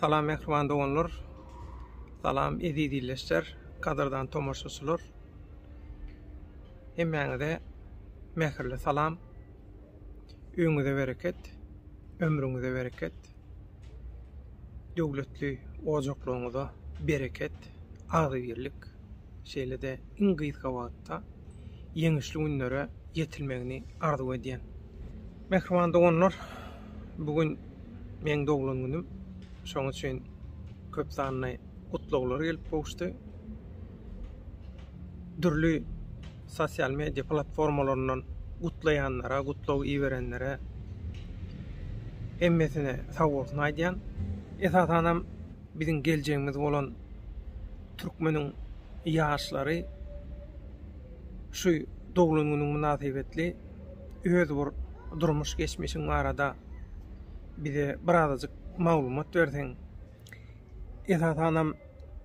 Salam mähriban doganlar. Salam eziz illeşler, gadyrdan tomaşaçylar. Hemmäňize mähirli salam. Öňüňize bereket, ömrüňize bereket. Döwletli ojaklygyňyza bereket, agzybirlik. Şeýle-de iň gysga wagtda ýeňişli günlere ýetilmegini arzuw edýän. Mähriban doganlar, bu gün meň doglan günüm. Şonuň üçin köp sanly gutlaglar gelip gowuşdy. Dürli sosial media platformalaryndan gutlaýanlara, gutlag iberenlere hemmesine sag bolsun aýdýan. Esasan hem biziň geljegimiz bolan türkmeniň ýaşlary şu doglan günüň mynasybetli öz bir durmuş geçmişiň barada bize birazajyk maglumat berseň. Esasanam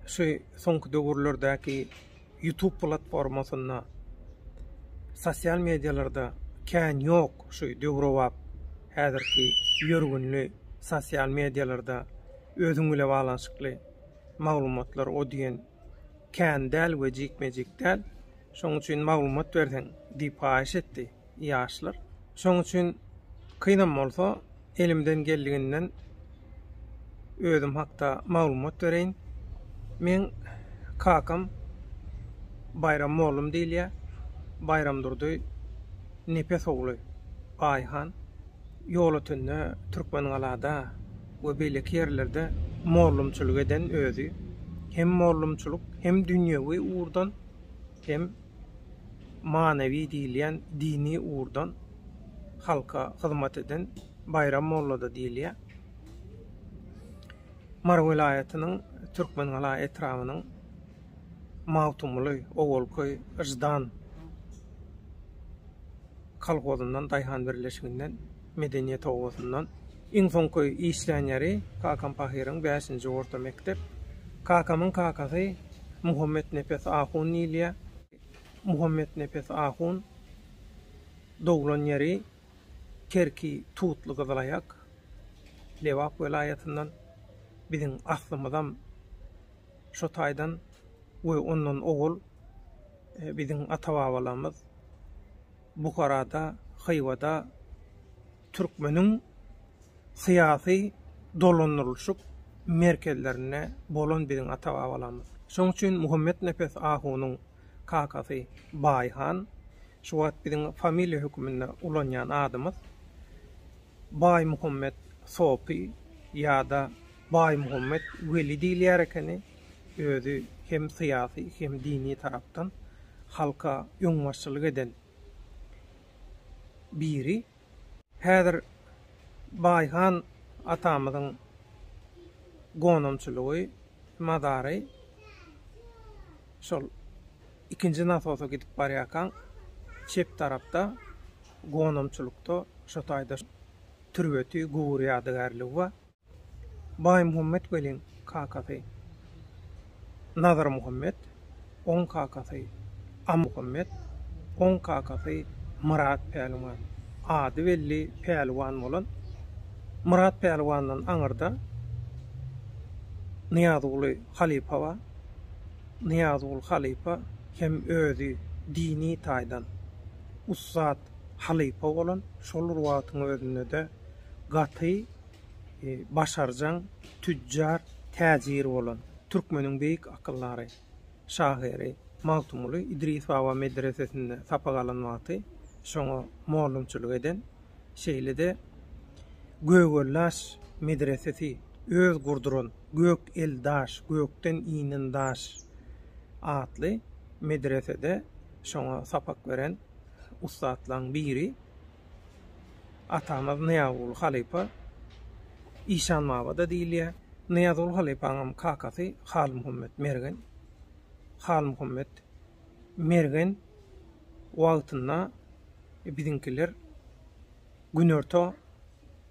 şu soňky döwürlerdäki ýutub platformasynda sosial medialarda kän ýok şu döwrebap häzirki ýörgünli sosial medialarda özüň bile baglanyşykly maglumatlar o diýen kän däl we jikme-jik däl, şoň üçin maglumat berseň diýip haýyş etdi. Ýaşlar. Şoň üçin kynam bolsa elimden geldiginden özüm hakda maglumat bereýin. Meň kakam Baýram mollum diýilýär. Baýramdurdy Nepes ogly Aýhan. ýolötende Türkmengalada we beýleki ýerlerde mollumçylyk eden özi hem mollumçylyk hem dünýewi ugurdan hem manewi diýilýän dini ugurdan halka hyzmat eden Baýram mollada diýilýär. Mary welaýatynyň Türkmengala etrabynyň Magtymguly, Ogulköý, Yždan, kolhozyndan, daýhan birleşiginden, medeniýet obasyndan. Iň soňky işlän ýeri kakam pahyryň bäşinji orta mekdep. Kakamyň kakasy Muhammetnepes ahun diýilýär. Muhammetnepes ahun doglan ýeri Kerki Tutly Gyzylaýak, Lebap welaýatyndan. Biziň aslymyzam şo taýdan we ondan owal Biziň ata-babalarymyz Buharada, Hywada türkmeniň syýasy dolandyrylyşyk merkezlerinde bolan biziň ata-babalarymyz. Şonuň üçin Muhammetnepes ahunyň kakasy Baýhan, şu wagt biziň familiýa höküminde ulanýan adymyz. Baýmuhammet Sopy ýa-da Baýmuhammet Weli diýilýär ekeni, özi hem syýasy, hem dini tarapdan halka öňbaşçylyk eden biri. Häzir Baýhan atamyzyň gonamçylygy, mazary şol Ikinji nasosa gidip barýarkaň, çep tarapda gonamçylykda şo taýda türbeti, gubury ýadygärligi bar. Baýmuhammet welin kakasy Nazarmuhammet, oň kakasy Amuhammet, oň kakasy Myrat Pälwan, ady belli Pälwan bolan Myrat Pälwandan aňyrda Nyýazguly halypa bar. Nyýazgul halypa hem özi dini taýdan ussat halypa bolan, şol bir wagtyň özünde-de gaty başarjaň tüjjar, täjir bolan. Türkmeniň beýik akyldary, şahyry Magtymguly Idris baba medresesinde sapak alan wagty şoňa mollumçylyk eden. şeýle-de Gögellaş medresesi, öz gurduran Gök el daş, gökden inen daş atly medresede şoňa sapak beren ussatlaryň biri atamyz Nyýazguly halypa işanmabada diýilýär. Nyýazguly halypanyňam kakasy Halmuhammet Mergen. Halmuhammet Mergen wagtynda biziňkiler Günorta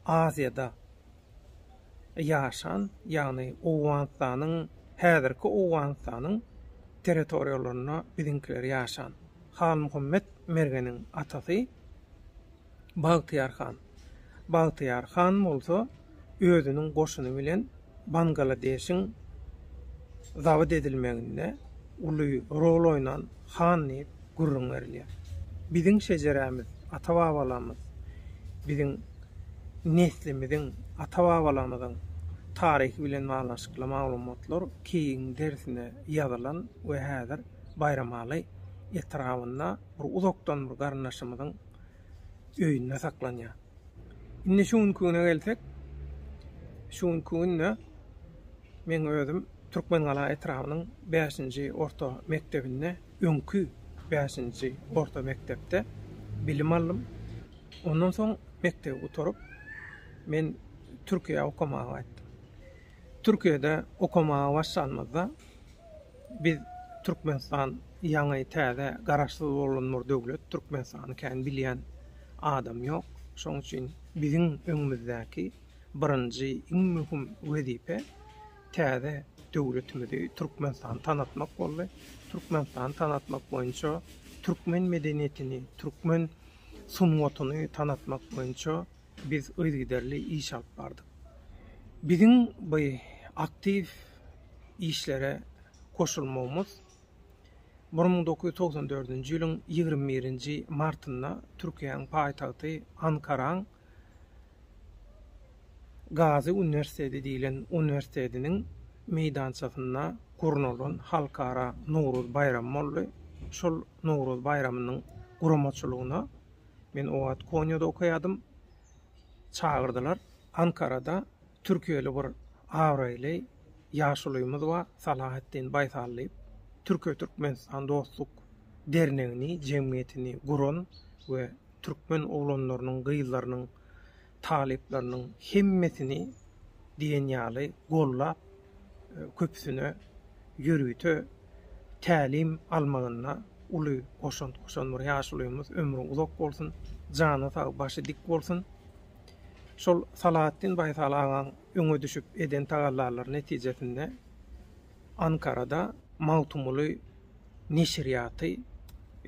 Aziýada ýaşan, ýagny Owganystanyň, häzirki Owganystanyň territoriýalarynda biziňkiler ýaşan. Halmyhammet Mergeniň atasy Bagtyýar han. Bagtyýar han bolsa özüniň goşuny bilen Bangaladeşiň zabt edilmeginde uly rol oýnan han diýip gürrüň berilýär. Biziň şejerämiz, ata-babalarymyz, biziň neslimiziň, ata-babalarymyzyň taryhy bilen baglanyşykly maglumatlar keýigiň derisine ýazylan we häzir Baýramaly etrabynda bir uzakdan bir garyndaşymyzyň öýünde saklanýar. Indi şu günki güne gelsek, şu günki günde meň özüm Türkmengala etrabynyň bäşinji orta mekdebinde, öňki bäşinji orta mekdepde bilim aldym. Ondan soň mekdebi gutaryp, men Türkiýä okamaga gaýtdym. Türkiýede okamaga başlanymyzda biz Türkmenistan ýaňy täze garaşsyz bolan bir döwlet, Türkmenistany kän bilýän adam ýok. Şoň üçin biziň öňümizdäki birinji iň möhüm wezipe täze döwletimizi Türkmenistany tanatmak boldy. Türkmenistany tanatmak boýunça türkmen medeniýetini, türkmen sungatyny tanatmak boýunça Biz yzygiderli iş alyp bardyk. Biziň bu aktiw işlere goşulmagymyz bir müň dokuz ýüz togsan dördünji ýylyň ýigrimi birinji martynda Türkiýäniň paýtagty Ankaraň Gazy uniwersiteti diýlen uniwersitetiniň meýdançasynda gurnalan Halkara Nowruz baýramy boldy. Şol Nowruz baýramynyň guramaçylygyna Men o wagt Konýada okaýardym. Çagyrdylar. Ankarada türkiýeli bir abraýly ýaşulymyz bar, Salahatdin Baýsal diýip. Türkiýe-Türkmenistan dostluk dernegini, jemgyýetini guran we türkmen oglanlarynyň, gyzlarynyň talyplarynyň hemmesini diýen ýaly gollap, köpüsine ýörite tälim almagynda uly goşant goşan bir ýaşulymyz, ömri uzak bolsun, jany sag, başy dik bolsun. Şol Salahatdin Baýsal agaň öňe düşüp eden tagallalary netijesinde Ankarada Magtymguly neşirýaty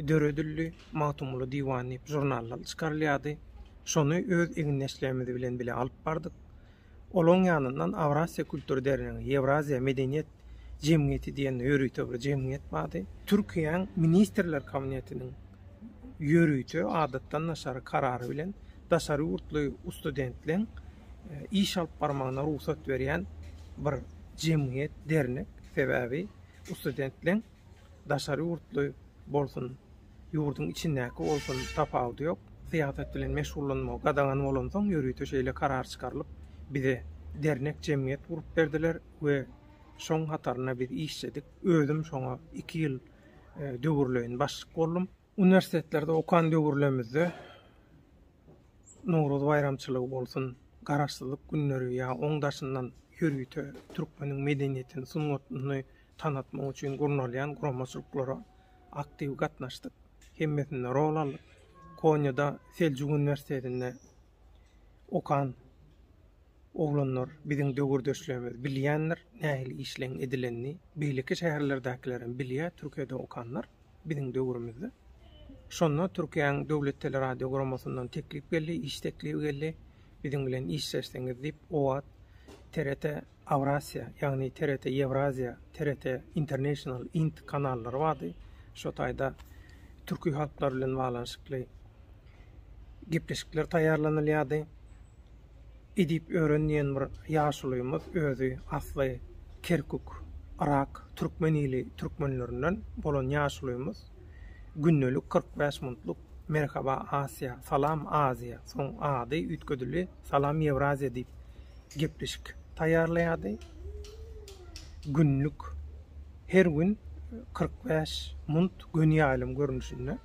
döredildi. Magtymguly diwany diýip žurnallar çykarylýardy. Şony öz egindeşlerimiz bilen bile alyp bardyk. Olaryň ýanyndan Awrasiýa kultur dernegi, Ýewraziýa medeniýet jemgyýeti diýen ýörite bir jemgyýet bardy. Türkiýäň Ministrler Kabinetiniň ýörite adatdan daşary karary bilen daşary ýurtly ustudentleň iş alyp barmagyna rugsat berýän bir jemgyýet, dernek. Sebäbi bu studentleň daşary ýurtly bolsun, ýurduň içindäki bolsun, tapawudy ýok. Syýasat bilen meşgullanmagy gadagan bolansoň, ýörite şeýle karar çykarylyp, bize dernek, jemgyýet gurup berdiler we şoň hatarynda biz işledik. Özüm şoňa iki ýyl döwürleýin başlyk boldum. Uniwersitetlerde okan döwürlemizde Nowruz baýramçylygy bolsun, Garaşsyzlyk günleri ýa oň daşyndan ýörite türkmeniň medeniýetini, sungatyny tanatmak üçin gurnalýan guramaçylyklara aktiw gatnaşdyk. Hemmesinde rol aldyk. Konýada Seljuk uniwersitetinde okan oglanlar, biziň döwürdeşlerimiz bilýändir, nähili işleň edilenini, beýleki şäherlerdäkilerem bilýär, Türkiýede okanlar. biziň döwrümizde. Şonda Türkiýäň döwlet teleradiogurammasyndan teklip geldi, iş teklibi geldi. Biziň bilen işleşseňiz diýip, o wagt TRT Aurasiýa, ýagny TRT Ýewraziýa, TRT International, int, kanallary bardy. Şo taýda türki halklar bilen baglanyşykly gepleşikler taýýarlanylýardy. edip ören diýen bir ýaşulymyz özi asly Kerkük, Yrak, türkmen ili türkmenlerinden bolan ýaşulymyz gündelik kyrk bäş muntluk Merhaba Asiýa, Salam Aziýa, soň ady üýtgedildi Salam Ýewraziýa diýip gepleşik taýýarlaýardy. Günlük her gün kyrk bäş munt göni ýaýlym görnüşinde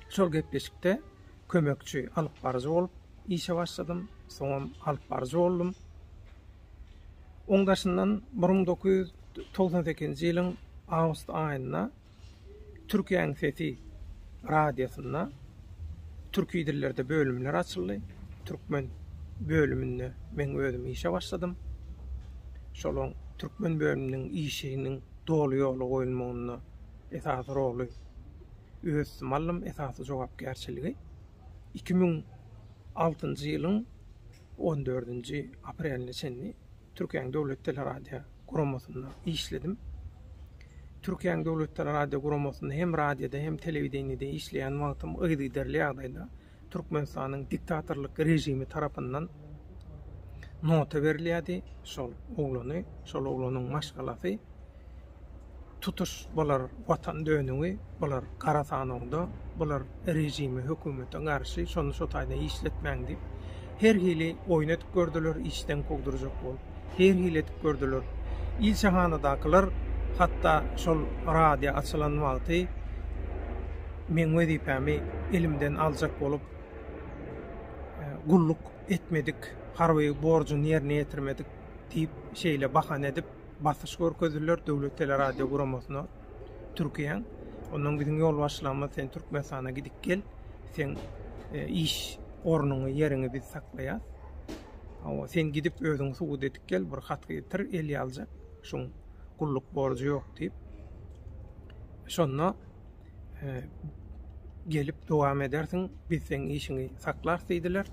şol gepleşikde kömekçi alyp baryjy bolup işe başladym, soňam alyp baryjy boldum. Oň daşyndan bir müň dokuz ýüz togsan sekizinji ýylyň awgust aýynda Türkiýäň sesi radiosynda türki dillerde bölümler açyldy. Türkmen bölüminde men özüm işe başladym. Şolaň türkmen bölüminiň işiniň doly ýola goýulmagynda esasy roly Ösdümallym esasy jogapkärçiligi iki müň altynjy ýylyň on dördünji apreline çenli Türkiýäň Döwlet teleradio guramasynda işledim. Türkiýäň Döwlet teleradio guramasynda hem radioda hem telewideniýede işleýän wagtym yzygiderli ýagdaýda Türkmenistanyň diktatorlyk režimi tarapyndan nota berilýärdi. Şol oglany, şol oglanyň maşgalasy tutuş bular watan dönügi, bular gara sanawda, bular režime, hökümete garşy, şony şo taýda işletmäň diýip, her hili oýun edip gördüler, işden kowdurjak bolup. her hili edip gördüler. Ilçihanadakylar hatda şol radio açylan wagty meň wezipämi elimden aljak bolup, gulluk etmedik, harby borjuny ýerine ýetirmedik diýip, şeýle bahana edip basyş görkezdiler Döwlet teleradio guramasyna Türkiýäň. Ondan biziň ýolbaşçylygymyz sen Türkmenistana gidip gel, seň iş ornuňy, ýeriňi biz saklaýas. Hawa, sen gidip özüňi subut edip gel, bir hat getir, el ýaljak, şuň gulluk borjy ýok diýip. Şonda gelip dowam edersiň, biz seň işiňi saklarys diýdiler.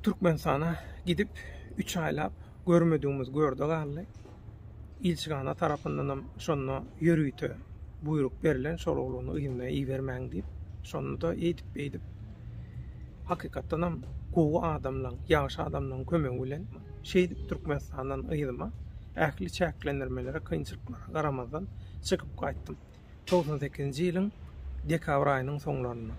Türkmenistana gidip, üç aýlap görmedigimiz görde galdy. Ilçihana tarapyndanam şonda ýörite buýruk berlen, şol oglany yzyna ibermäň diýip. Şonda-da eýdip-beýdip, hakykatdanam gowy adamlaň, ýagşy adamlaň kömegi bilen şeýdip Türkmenistandan yzyma, ähli çäklendirmelere, kynçylyklara garamazdan çykyp gaýtdym. Togsan sekizinji ýylyň dekabr aýynyň soňlarynda.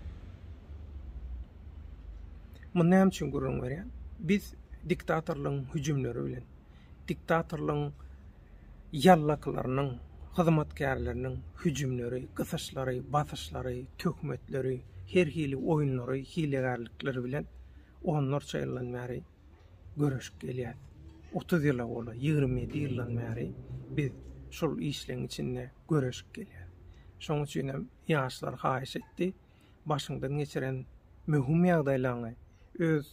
Muny näme üçin gürrüň berýän? Biz diktatorlaryň hüjümleri bilen, diktatorlygyň ýallaklarynyň, hyzmatkärleriniň hüjümleri, gysyşlary, basyşlary, töhmetleri, her hili oýunlary, hilegärlikleri bilen onlarça ýyldan bäri göreşip gelýäs. Otuz ýyla golaý, ýigrimi ýedi ýyldan bäri biz şol işleň içinde göreşip gelýäs. Şoň üçinem ýaşlar haýyş etdi. başyňdan geçiren möhüm ýagdaýlaňy, öz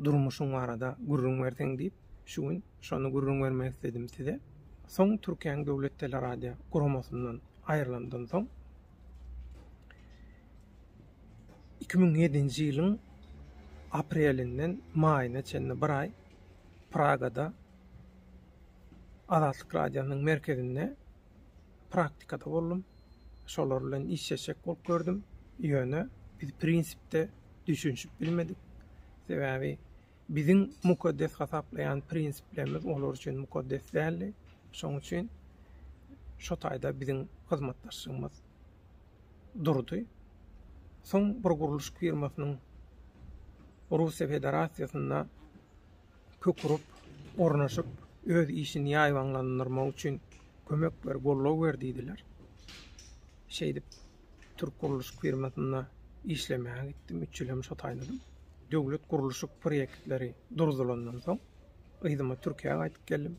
durmuşyň barada gürrüň berseň diýip, şu gün şony gürrüň bermek isledim size. Soň Türkiýäň Döwlet teleradio guramasyndan aýrylandym soň, iki müň ýedinji ýylyň aprelinden maýyna çenli bir aý Pragada Azatlyk radionyň merkezinde praktikada boldum. Şolar bilen işleşjek bolup gördüm. Ýöne biz prinsipde düşünişip bilmedik. Sebäbi biziň mukaddes hasaplaýan prinsiplerimiz olar üçin mukaddes däldi. Şonuň üçin şo taýda biziň hyzmatdaşlygymyz durdy. Soň bir gurluş firmasynyň Russiýa Federasiýasynda kök urup, ornaşyp, öz işini ýaýbaňlandyrmagy üçin kömek ber, goldaw ber diýdiler. Şeýdip, türk gurluşyk firmasynda işlemäge gitdim, üç ýyl hem şo taýladym. Döwlet gurluşyk proýektleri durzulandan soň, yzyma Türkiýä gaýdyp geldim.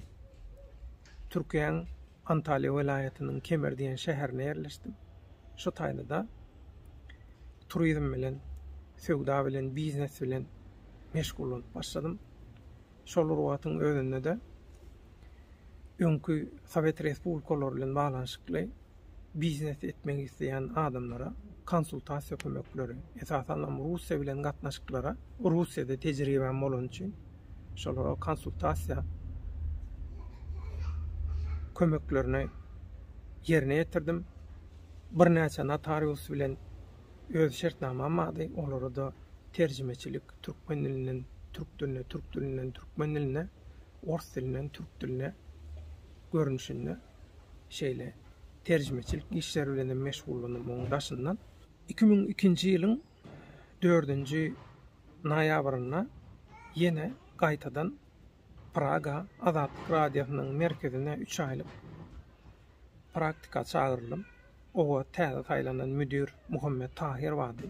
Türkiýäň Antalýa welaýatynyň Kemer diýen şäherine ýerleşdim. Şu taýda-da turizm bilen, söwda bilen, biznes bilen meşgullanyp başladym. Şol bir wagtyň özünde-de öňki sowet respublikalary bilen baglanyşykly biznes etmek isleýän adamlara konsultasiýa kömekleri, esasanam Russiýa bilen gatnaşyklara, Russiýada tejribäm bolany üçin, şolara konsultasiýa kömeklerini ýerine ýetirdim. Birnäçe notarius bilen öz şertnamam bardy. Olara-da terjimeçilik türkmen dilinden türk diline, türk dilinden türkmen diline, ors dilinden türk diline görnüşinde şeýle terjimeçilik işleri bilen hem meşgullandym. Onuň daşyndan 2002-nji ýylyň dördünji noýabrynda ýene gaýtadan Praga Azatlyk Radiosynyň merkezine üç aýlyk praktika çagyryldym. Oňa täze saýlanan müdir Muhammet Tahyr bardy.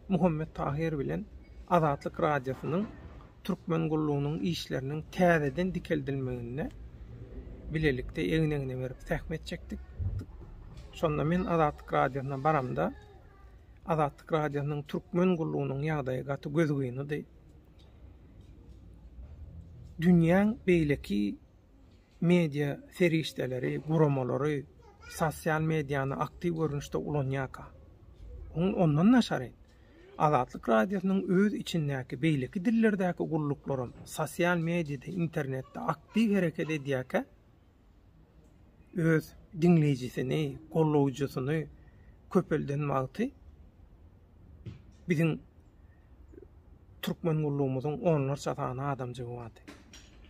Muhammet Tahyr bilen Azatlyk Radiosynyň türkmen gullugynyň işleriniň täzeden dikeldilmeginde bilelikde egin-egne berip zähmet çekdik. Şonda men Azatlyk Radiosyna baramda, Azatlyk Radiosynyň Türkmen gullugynyň ýagdaýy gaty gözgynydy. Dünýäň beýleki media serişdeleri, guramalary sosial mediany aktiw görnüşde ulanýarka. Oň ondan daşary, Azatlyk Radiosynyň öz içindäki beýleki dillerdäki gulluklaram sosial mediada, internetde aktiw hereket edýärkä, öz diňleýjisini, gollawjysyny köpelden wagty biziň türkmen gullugymyzyň onlarça sany adamjygy bardy.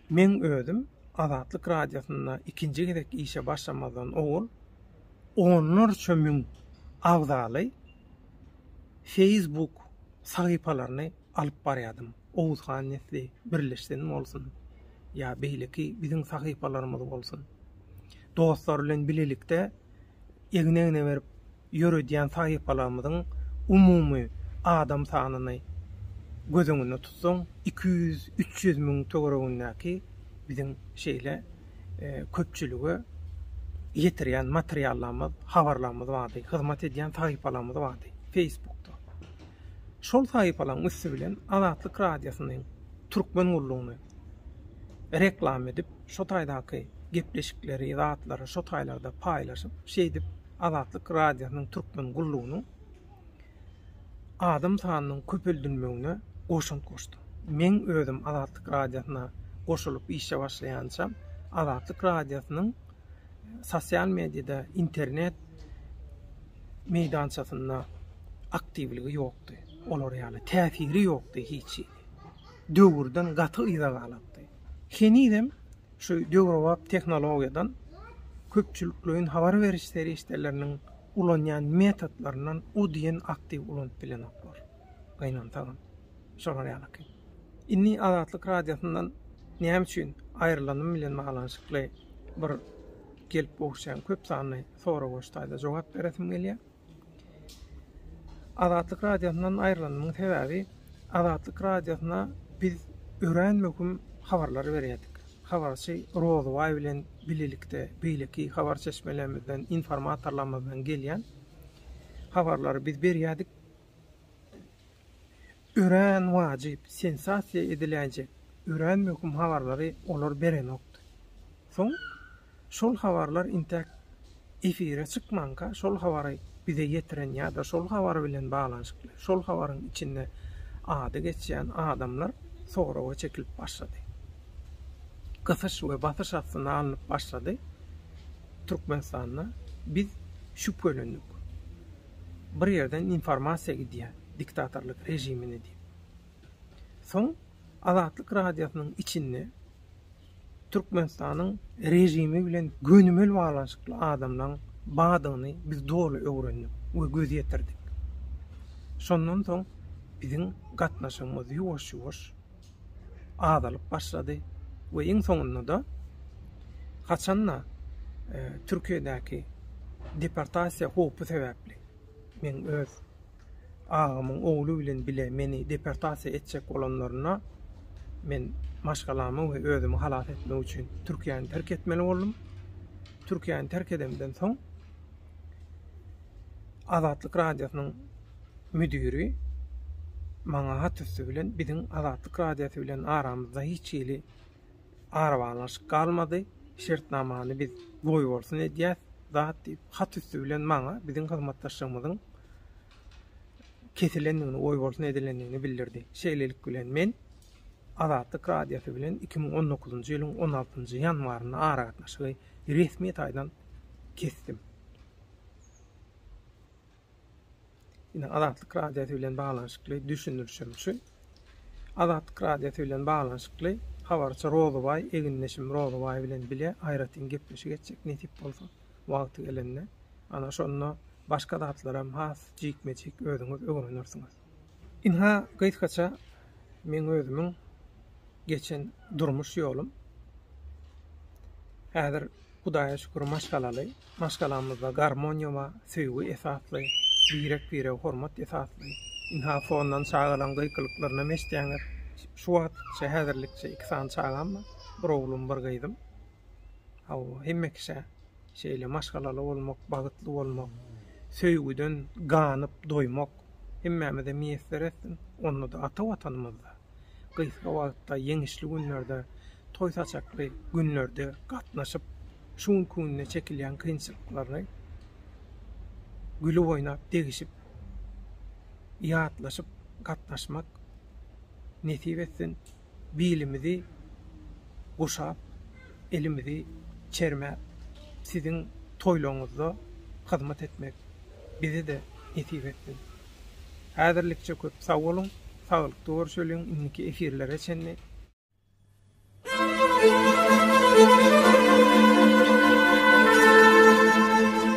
Meň özüm Azatlyk Radiosynda ikinji gezek işe başlamazdan owal onlarça müň abzaly feýsbuk sahypalaryny alyp barýardym. Oguz han nesli birleşsin bolsun, ýa beýleki biziň sahypalarymyz bolsun. Dostlar bilen bilelikde egin-egne berip ýöredýän sahypalarymyzyň umumy adam sanyny göz öňünde tutsaň, iki ýüz, üç ýüz müň töweregindäki biziň şeýle köpçülige ýetirýän materiallarymyz, habarlarymyz bardy, hyzmat edýän sahypalarymyz bardy Feýsbukda. Şol sahypalaryň üsti bilen Azatlyk Radiosynyň türkmen gullugyny reklam edip, şo taýdaky gepleşikleri, zatlary şo taýlarda paýlaşyp, şeýdip Azatlyk Radiosynyň türkmen gullugynyň adam sanynyň köpeldilmegine goşant goşdy. Meň özüm Azatlyk Radiosyna goşulyp işe başlaýançam Azatlyk Radiosynyň sosial mediýada, internet meýdançasynda aktiwligi ýokdy. Olar ýaly täsiri ýokdy hiç. Döwürden gaty yza galypdy. Henizem şu döwrebap tehnologiýadan köpçülikleýin habar beriş serişdeleriniň ulanýan metodlaryndan o diýen aktiw ulanyp bilenoklar. gynansagam, şolar ýalyky. Indi Azatlyk Radiosyndan näme üçin aýrylanym bilen baglanyşykly bir gelip gowuşýan köp sanly soragoştaýda jogap beresim gelýär. Azatlyk Radiosyndan aýrylanymyň sebäbi Azatlyk Radiosyna biz örän möhüm habarlary berýärdik. Habarçy Rozybaý bilen bilelikde beýleki habar çeşmelerimizden, informatorlarymyzdan gelýän habarlary biz berýärdik. Örän wajyp, sensasiýa ediläýjek, örän möhüm habarlary olar berenokdy. Soň şol habarlar intäk efire çykmanka şol habary bize ýetiren ýa-da şol habar bilen baglanyşykly, şol habaryň içinde ady geçýän adamlar soraga çekilip başlady. Gysyş we basyş astyna alnyp başlady Türkmenistanda. Biz şübhelendik. bir ýerden informasiýa gidýär diktatorlyk režimine diýip. Soň Azatlyk radiosynyň içinde Türkmenistanyň režimi bilen gönümel baglanyşykly adamlaň badygyny biz doly öwrendik we göz ýetirdik. Şondan soň biziň gatnaşygymyz ýuwaş-ýuwaş azalyp başlady we iň soňunda-da, haçan-da Türkiýedäki deportasiýa howpy sebäpli, meň öz agamyň ogly bilen bile meni deportasiýa etjek bolanlarynda, men maşgalamy we özümi halas etmek üçin Türkiýäni terk etmeli boldum. Türkiýäni terk edemden soň, Azatlyk Radiosynyň müdiri maňa hat üsti bilen biziň Azatlyk Radiosy bilen aramyzda hiç hili arabaglanyşyk galmady, şertnamany biz goýbolsun edýäs zat diýip, hat üsti bilen maňa biziň hyzmatdaşlygymyzyň kesilendigini, goýbolsun edilendigini bildirdi. Şeýlelik bilen men Azatlyk Radiosy bilen iki müň on dokuzynjy ýylyň on altynjy ýanwarynda aragatnaşygy Resmi taýdan kesdim. Ine Azatlyk radiosy bilen baglanyşykly düşündirişim şu. Azatlyk radiosy bilen baglanyşykly habarçy Rozybaý egindeşim Rozybaý bilen bile aýratyn gepleşik etjek nesip bolsa wagty gelende. Ana şonda başga zatlaram has jikme-jik özüňiz öwrenersiňiz. Ynha, gysgaça meň özümiň geçen durmuş ýolum. Häzir, Hudaýa şükür, maşgalaly. Maşgalamyzda garmoniýa bar, söýgi esasly, birek-birege hormat esasly. Ynha, fondan çagalaryň gykylyklaryny hem eşidýäňiz. Şu wagtlyk, şu häzirlikçe iki sany çagam bar, bir oglum, bir gyzym. Hawa, hemme kişä şeýle maşgalaly bolmak, bagtly bolmak, söýgüden ganyp doýmak hemmämize miýesser etsin. Onda-da ata Watanymyzda, gysga wagtda, ýeňişli günlerde, toý-saçakly günlerde gatnaşyp, şu günki günde çekilýän kynçylyklaryny gülüp oýnap, degişip, ýatlaşyp gatnaşmak nesip etsin. bilimizi guşap, elimizi çermäp, siziň toýlaryňyzda hyzmat etmek bize-de nesip etsin. Häzirlikçe köp sag boluň, saglykda görşeliň, indiki efirlere çenli.